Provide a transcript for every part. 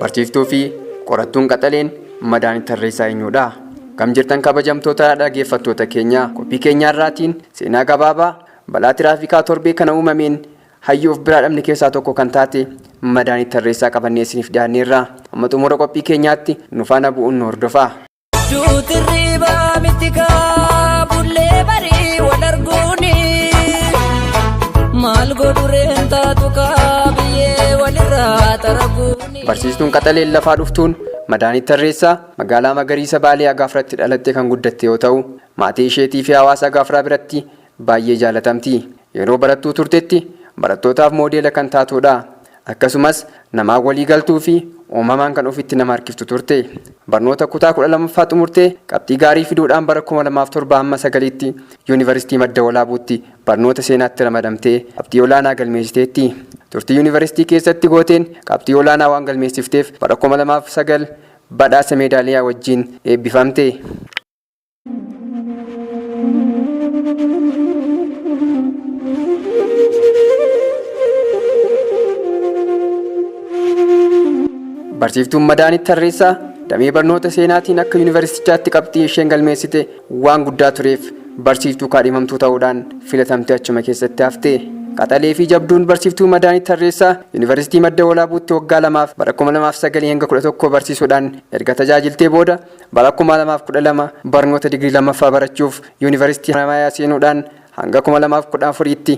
Barsiiftuu fi qorattuun qaxaleen madaan tarreessaa eenyudha? Kam jirtan kabajamtoota dhaggeeffattoota keenya qophii keenyaarraatiin seenaa gabaabaa balaa tiraafikaa torbee kana uumameen Hayyuu of biraa dhabne keessaa tokko kan taate Madaanit Tarreessaa qabannee isiniif dhiyaanneerra. Amma xumura qophii keenyaatti nu faana bu'uun nu hordofaa. Duuti hirribaa miti kaa bullee barii wal arguuni maal godhu reen taatu kaa biyyee walirraa taraguuni. Barsiistuun qaxaleen lafaa dhuftuun Madaanit Tarreessaa magaalaa magariisa Baalee Agaafratti dhalattee kan guddatte yoo ta'u, maatii isheetii fi hawaasa Agaafraa biratti Baay'ee jaalatamti. Yeroo barattuu turtetti barattootaaf moodeela kan taatuudha. Akkasumas, namaan walii galtuufi uumamaan kan ofitti nama harkiftu turte. Barnoota kutaa 12ffaa xumurtee qabxii gaarii fiduudhaan bara 2007-9tti Yuunivarsiitii Madda Walaabuutti barnoota seenaatti ramadamtee qabxii olaanaa galmeessiteetti. Turtii yuunivarsiitii keessatti gooteen qabxii olaanaa waan galmeessifteef bara 2009 badhaasa meedaaliyaa wajjin eebbifamte. Barsiiftuun Madaanit Tarreessaa damee barnoota seenaatiin akka yuunivarsiitichaatti qabxii isheen galmeessite waan guddaa tureef barsiiftuu kaadhimamtuu ta'uudhaan filatamtee achuma keessatti hafte. Qaxalee fi jabduun barsiiftuu Madaanit Tarreessaa yuunivarsiitii Madda Walaabuutti waggaa lamaaf bara 2009 hanga 11 barsiisuudhaan erga tajaajiltee booda Bara 2012 barnoota digirii lammaffaa barachuuf Yuunivarsiitii Haramaayaa seenuudhaan hanga 2014tti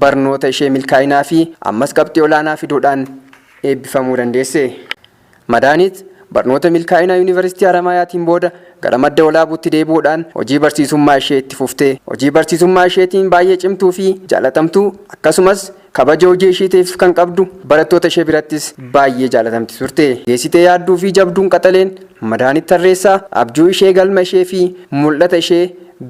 barnoota ishee milkaa'inaa fi ammas qabxii olaanaa fiduudhaan eebbifamuu dandeesse. Madaanit barnoota milkaa'inaa Yuunivarsiitii Haramaayaatiin booda gara Madda Walaabuutti deebi'uudhaan hojii barsiisummaa ishee itti fufte. Hojii barsiisummaa isheetiin baay'ee cimtuu fi jaalatamtuu akkasumas, Kabaja hojii ishiitiif kan qabdu barattoota ishee birattis baayyee jaalatamti turte. Geessitee yaadduu fi jabduun qaxaleen Madaanit Tarreessaa abjuu ishee, galma ishee fi mul'ata ishee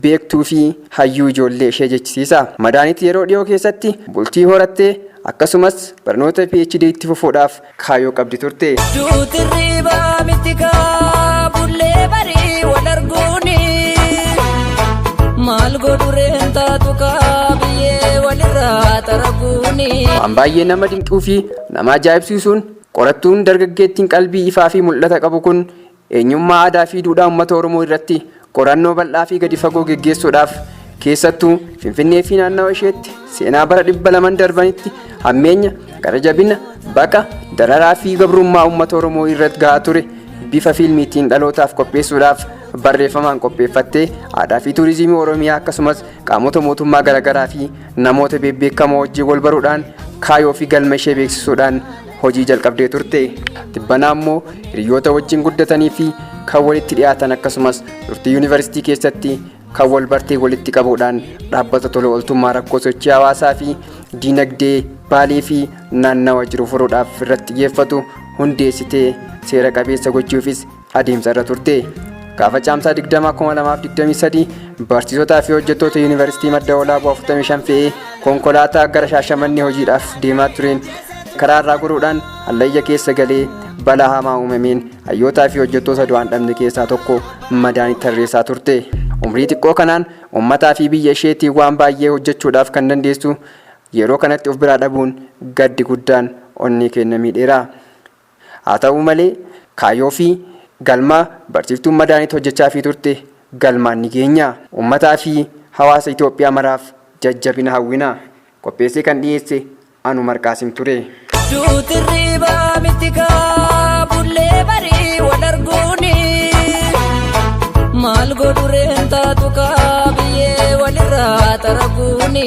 beektuu fi hayyuu ijoollee ishee jechisiisa. Madaanit yeroo dhiyoo keessatti bultii horattee akkasumas barnoota PhD itti fufuudhaaf kaayoo qabdi turte. Duuti riibaa miti kaa bullee barii wal arguuni. Maal godhu reen taatu kaa biyyee walirraa xaraguuni. Waan baay'ee nama dinquu fi nama ajaa'ibsiisuun qorattuun dargaggeettiin qalbii ifaa fi mul'ata qabu kun Eenyummaa aadaa fi duudhaa uummata Oromoo irratti qorannoo bal'aa fi gadi fagoo geggeessuudhaaf keessattuu Finfinnee fi naannawa isheetti seenaa bara dhibba laman darbanitti hammeenya, gara jabina, baqa, dararaa fi gabrummaa uummata Oromoo irratti gahaa ture bifa fiilmiitiin dhalootaaf qopheessuudhaaf barreeffamaan qopheeffattee aadaa fi tuurizimii Oromiyaa akkasumas qaamota mootummaa garaagaraa fi namoota beebbeekamoo wajjin wal baruudhaan kaayoo fi galma ishee beeksisuudhaan Hojii jalqabdee turte tibbanaa immoo hiriyoota wajjin guddatanii fi kan walitti dhiyaatan akkasumas turtii yuunivarsiitii keessatti kan wal bartee walitti qabuudhaan dhaabbata tola ooltummaa rakkoo sochii hawaasaa fi diinagdee baalee fi naannawa jiru furuudhaaf irratti xiyyeeffatu hundeessitee seera qabeessa gochuufis adeemsa irra turte. Gaafa caamsaa 20,2023 barsiisotaa fi hojjettoota yuunivarsiitii madda walaabuu 45 fe'ee konkolaataa gara shaashamannee hojiidhaaf deemaa tureen karaa irraa goruudhaan hallayya keessa galee balaa hamaa uumameen hayyootaa fi hojjettoota du'aan dhabne keessaa tokko madaanii tarreessaa turte. Umrii xiqqoo kanaan uummataa fi biyya isheetii waan baay'ee hojjechuudhaaf kan dandeessu yeroo kanatti of biraa dhabuun gaddi guddaan onnee keenya miidheera. Haa ta'uu malee kaayyoo fi galma barsiiftuun Madaanit hojjechaafii turte galmaan ni geenya. Ummataa fi hawaasa Itoophiyaa maraaf jajjabina hawwina. Qopheessee kan dhiyeesse Anu Marqaasim ture. Duuti irriiba miti kaa bullee barii wal arguuni maal godhu reen taatu kaa biyyee walirraa xaraguuni.